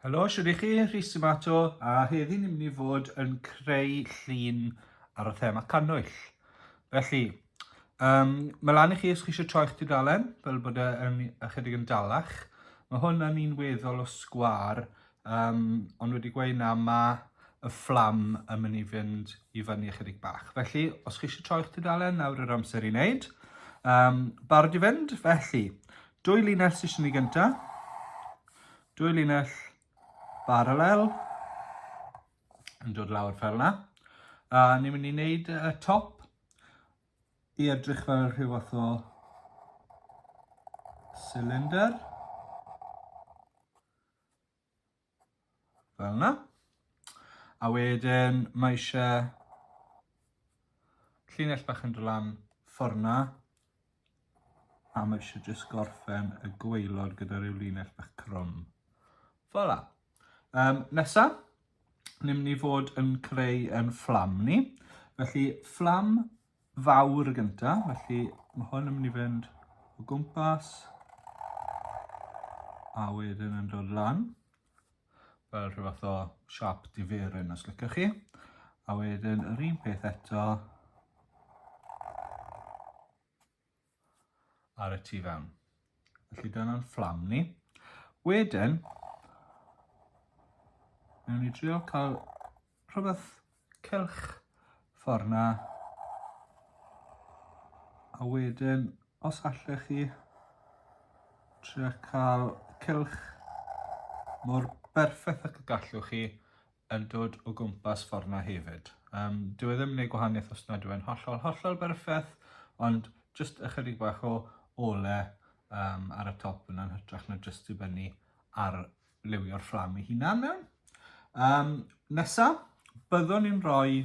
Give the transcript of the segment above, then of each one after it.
Helo, siwr i chi, Rhys Ymato, a heddi ni'n mynd i fod yn creu llun ar y thema cannwyll. Felly, um, mae lan i chi os chi eisiau troi'ch tudalen, fel bod e yn ychydig yn dalach. Mae hwn yn un weddol o sgwar, Um, ond wedi gweud na, mae y fflam yn mynd i fynd i fyny ychydig bach. Felly, os chi eisiau troi'ch tudalen, nawr yr amser i wneud. Um, barod i fynd? Felly, dwy linell sy'n eisiau ni gyntaf. Dwy linell baralel yn dod lawr fel yna. A ni'n mynd i wneud y top i edrych fel rhyw fath o cylinder. Fel yna. A wedyn mae eisiau llinell bach yn dod lan fforna. A mae eisiau jyst gorffen y gweilod gyda rhyw linell bach crwm. Fel yna. Um, nesa, ni'n mynd i fod yn creu yn fflam ni. Felly fflam fawr y gynta, felly mae hwn yn mynd i fynd o gwmpas a wedyn yn dod lan fel rhyw fath o siap diferyn os lycach chi a wedyn yr un peth eto ar y tu fewn. Felly dyna'n fflam ni. Wedyn, mewn i drio cael rhywbeth cylch ffordd na. A wedyn, os allech chi trio cael cylch mor berffaith ac y gallwch chi yn dod o gwmpas ffordd 'na hefyd. Um, dyw e ddim yn gwneud gwahaniaeth os nad yw e'n hollol, hollol berffaith, ond jyst ychydig bach o ole um, ar y top yna'n hytrach na jyst dibynnu ar liwio'r fflam ei hunan mewn. Um, nesa, byddwn ni'n rhoi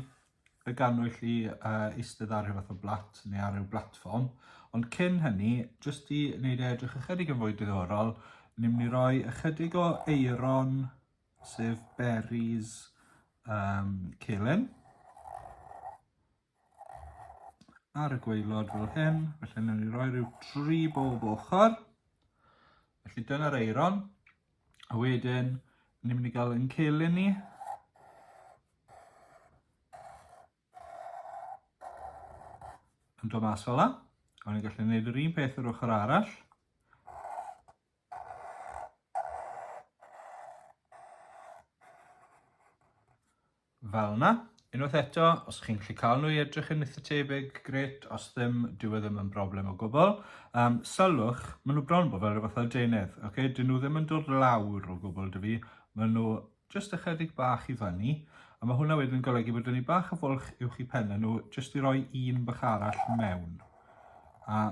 y ganwyll i uh, eistedd ar rhywbeth o blat neu ar ryw blatfform, ond cyn hynny, jyst i wneud e edrych ychydig yn fwy diddorol, ni'n mynd i roi ychydig o eiron sef berries um, celen ar y gweilod fel hyn, felly newn ni roi rhyw dri bob ochr. Felly dyna'r eiron, a wedyn ni'n mynd i gael yn celen ni. Yn dod mas fel yna, a ni'n gallu gwneud yr un peth yr ochr arall. Fel yna. Unwaith eto, os chi'n gallu cael nhw i edrych yn eitha tebyg, gret, os ddim, dyw e ddim yn broblem o gwbl. Um, sylwch, maen nhw bron bod fel rhywbeth o deunydd, okay? dyn nhw ddim yn dod lawr o gwbl dy fi, maen nhw jyst ychydig bach i fyny, a mae hwnna wedyn yn golygu bod ni bach o fwlch uwch i pennau nhw, jyst i roi un bach arall mewn. A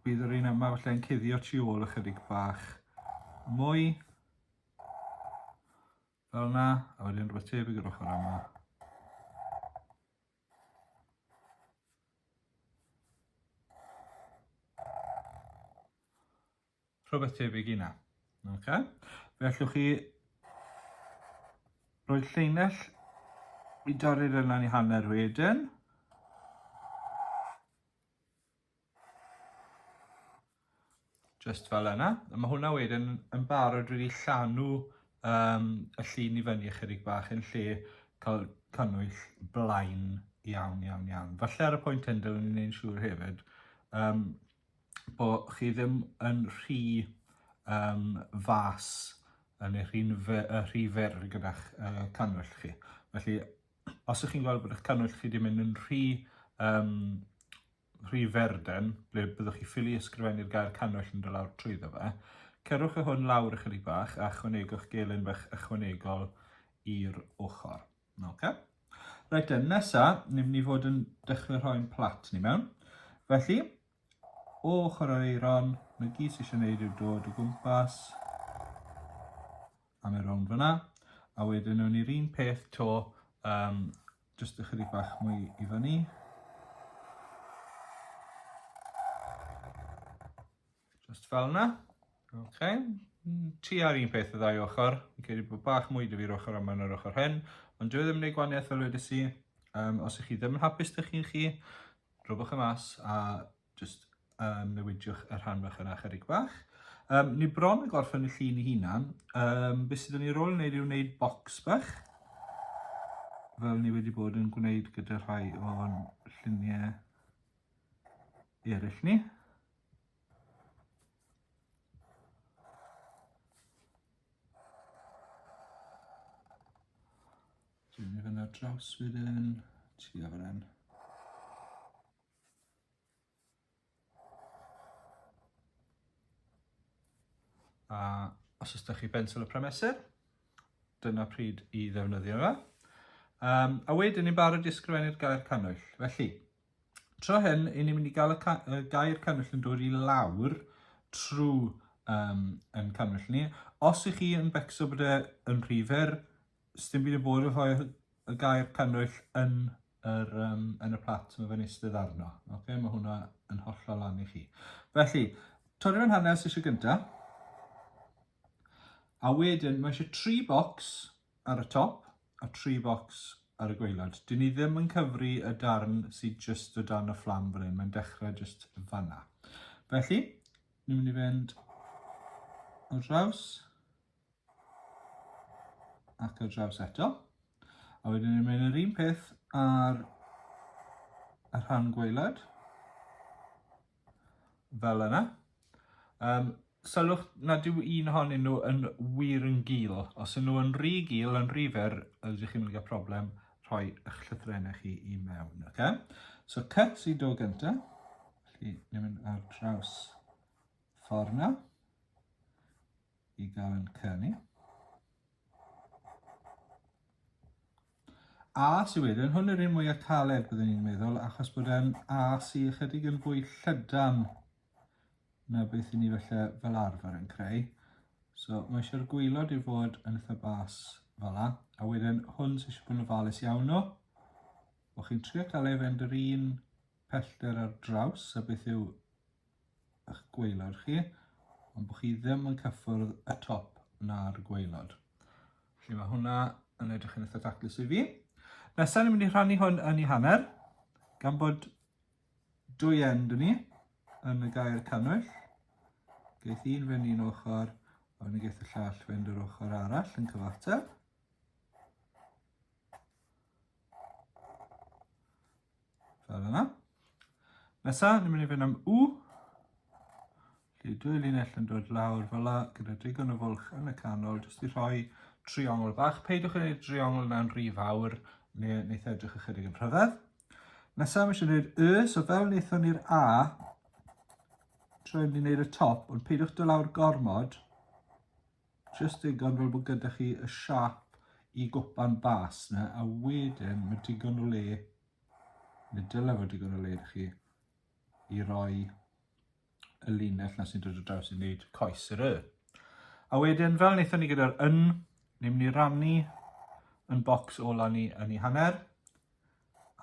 Bydd yr un yma falle yn cuddio tu ôl ychydig bach mwy. Fel yna, a wedyn rhywbeth tebyg yr ochr yma. Rhywbeth tebyg i na. Okay. Fe allwch chi roi lleunell i dorri'r yna i hanner wedyn. Just fel yna. A mae hwnna wedyn yn barod wedi llanw um, y llun i fyny ychydig bach yn lle cael cannwyll blaen iawn, iawn, iawn. Falle ar y pwynt hyn, dylwn ni'n ein siŵr hefyd, um, bo chi ddim yn rhy um, fas yn eich rhi'n rhy fer gyda'ch uh, cannwyll chi. Felly, Os ych chi'n gweld bod eich cannwyll chi wedi mynd yn rhy, um, rhy ferden, ble byddwch chi ffili ysgrifennu'r gair cannwyll yn dylawr trwy trwyddo fe, cerwch y hwn lawr ychydig bach a chwanegwch gelyn bach ychwanegol i'r ochr. Okay. Reit then, nesa, ni'n mynd i fod yn dechrau rhoi'n plat ni mewn. Felly, o ochr yr eiron, mae gyd sy'n eisiau gwneud yw dod o gwmpas am y rownd fyna. A wedyn nhw'n i'r un peth to, um, just ychydig bach mwy i fyny. Just fel yna. Okay. Ti ar un peth y ddau ochr. Fi'n credu bod bach mwy dy fi'r ochr yma na'r ochr hyn. Ond dwi e ddim yn ei gwaniaeth fel wedi si. Um, os ych chi ddim yn hapus dych chi'n chi, drobwch y e mas a Jyst um, newidiwch y rhan fach yna chyrig bach. Um, ni bron yn gorffen y llun i hunan. Um, be sydd yn ei rôl wneud yw wneud bocs bach. Fel ni wedi bod yn gwneud gyda rhai o'n lluniau eraill ni. Dwi'n mynd i fynd ar draws wedyn, ti a fan hyn. A os oes da chi bensel y prymesur, dyna pryd i ddefnyddio fe. Um, a wedyn ni'n barod i ysgrifennu'r gair cannwyll. Felly, tro hyn, i ni'n mynd i gael y, ca y gair cannwyll yn dod i lawr trwy um, yn cannwyll ni. Os ych chi yn becso bod e yn rhy fer, Sdim byd yn bod efo rhoi y gair cannwyll yn yr, um, yn y plat mae fe'n eistedd arno. Okay? Mae hwnna yn hollol lan i chi. Felly, torri fe'n hanner sesiwn gyntaf. A wedyn, mae eisiau tri bocs ar y top a tri bocs ar y gweilod. Dyn ni ddim yn cyfru y darn sydd just o dan y fflam fan hyn. Mae'n dechrau just fanna. Felly, ni'n mynd i fynd o draws. ac ar draws eto. A wedyn ni'n mynd yr un peth ar y rhan gwaelod, fel yna. Um, sylwch nad yw un ohonyn nhw yn wir yn gil. Os ydyn nhw yn rhy gil, yn rhy fer, ydych chi'n mynd i gael problem rhoi eich llythrennau chi i mewn. Okay? So cut i do gyntaf. Felly, ni'n mynd ar draws ffordd na. i gael canu. A sy'n wedyn, hwn yw'r un mwyaf caled byddwn ni'n meddwl, achos bod e'n A sy ychydig yn fwy llydan na beth i ni felly fel arfer yn creu. So mae eisiau'r gwylod i fod yn eitha bas fel la, a wedyn hwn sy'n eisiau bod yn ofalus iawn o, bod chi'n trio cael ei fynd yr un pellter ar draws a beth yw ych gwaelod chi, ond bod chi ddim yn cyffwrdd y top na'r gwaelod. Felly mae hwnna yn edrych yn eitha taclus i fi. Nesaf ni'n mynd i rhannu hwn yn ei hanner, gan bod dwy end yn ni yn y gair cannwyll. Geith un fynd i'n ochr, a wedyn geith y llall fynd yr ochr arall yn cyfateb. Fel yna. Nesa, ni'n mynd i fynd am U. Felly dwy linell yn dod lawr fel yna, gyda digon o fwlch yn y canol, jyst i rhoi triongl bach. Peidiwch yn gwneud triongl yna'n rhy fawr, neu wneud e edrych ychydig yn rhyfedd. Nesaf, mae eisiau gwneud Y, so fel wnaethon ni'r A, trwy mynd i wneud y top, ond peidiwch dod lawr gormod, Jyst digon fel bod gyda chi y siap i gwpan bas na, a wedyn mae digon o le, neu dylai fod digon o le da chi, i roi y linell na sy'n dod o draws i wneud coes yr y. A wedyn, fel wnaethon ni gyda'r yn, ni'n mynd i rannu yn bocs ola ni yn ei hanner,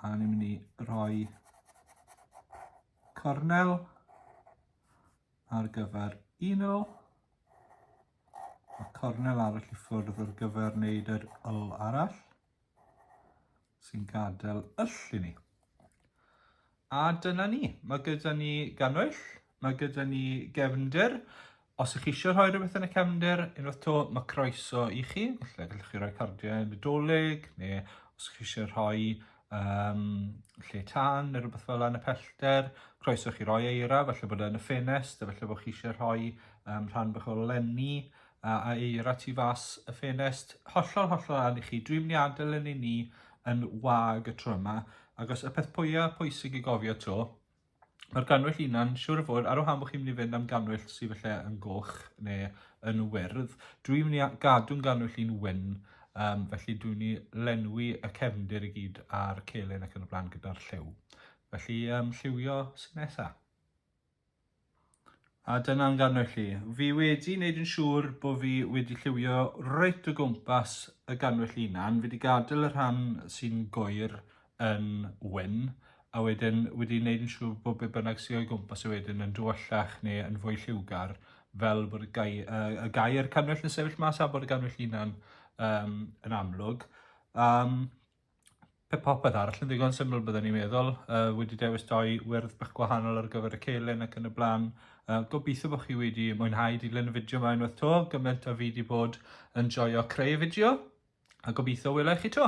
a ni'n mynd i roi cornel ar gyfer uno a cornel arall i ffwrdd ar gyfer wneud yr ul arall sy'n gadael yll i ni. A dyna ni, mae gyda ni gannwyll, mae gyda ni gefnder. Os ych chi eisiau rhoi rhywbeth yn y cefnder, unwaith to, mae croeso i chi. Felly, gallwch chi roi cardiau yn y dolyg, neu os ych chi eisiau rhoi um, lle tan neu rhywbeth fel yna yn y pellter, croeso chi roi eira, felly bod yn y ffenest, felly bod chi eisiau rhoi um, rhan bych o lenni a, a eira tu fas y ffenest, hollol hollol arall i chi, dwi'n mynd i adael yn i ni yn wag y tro yma, agos y peth pwyau pwysig i gofio to, Mae'r gannwyll hunan, siwr o fod, ar wahân bod chi'n mynd i fynd am gannwyll sydd felly yn goch neu yn wyrdd. Dwi'n mynd i gadw'n gannwyll i'n wyn, um, felly dwi'n mynd i lenwi y cefndir i gyd a'r celyn ac yn y blaen gyda'r lliw. Felly, um, lliwio sy'n nesaf. A dyna'n gannoedd chi. Fi wedi wneud yn siŵr bod fi wedi lliwio reit o gwmpas y gannoedd chi hunan. Fi wedi gadael y rhan sy'n goer yn wyn a wedyn wedi wneud yn siŵr bod be bynnag sy'n o'i gwmpas y e wedyn yn dywyllach neu yn fwy lliwgar fel bod y, gai, uh, y gair cannoedd yn sefyll mas a bod y gannoedd chi hunan um, yn amlwg. Um, Pe popeth arall yn ddigon syml byddwn i'n meddwl, uh, wedi dewis doi wyrdd bach gwahanol ar gyfer y celyn ac yn y blaen. Uh, gobeithio bod chi wedi mwynhau dilyn y fideo yma unwaith to, gymaint a fi wedi bod yn joio creu y fideo, a gobeithio wela i chi to.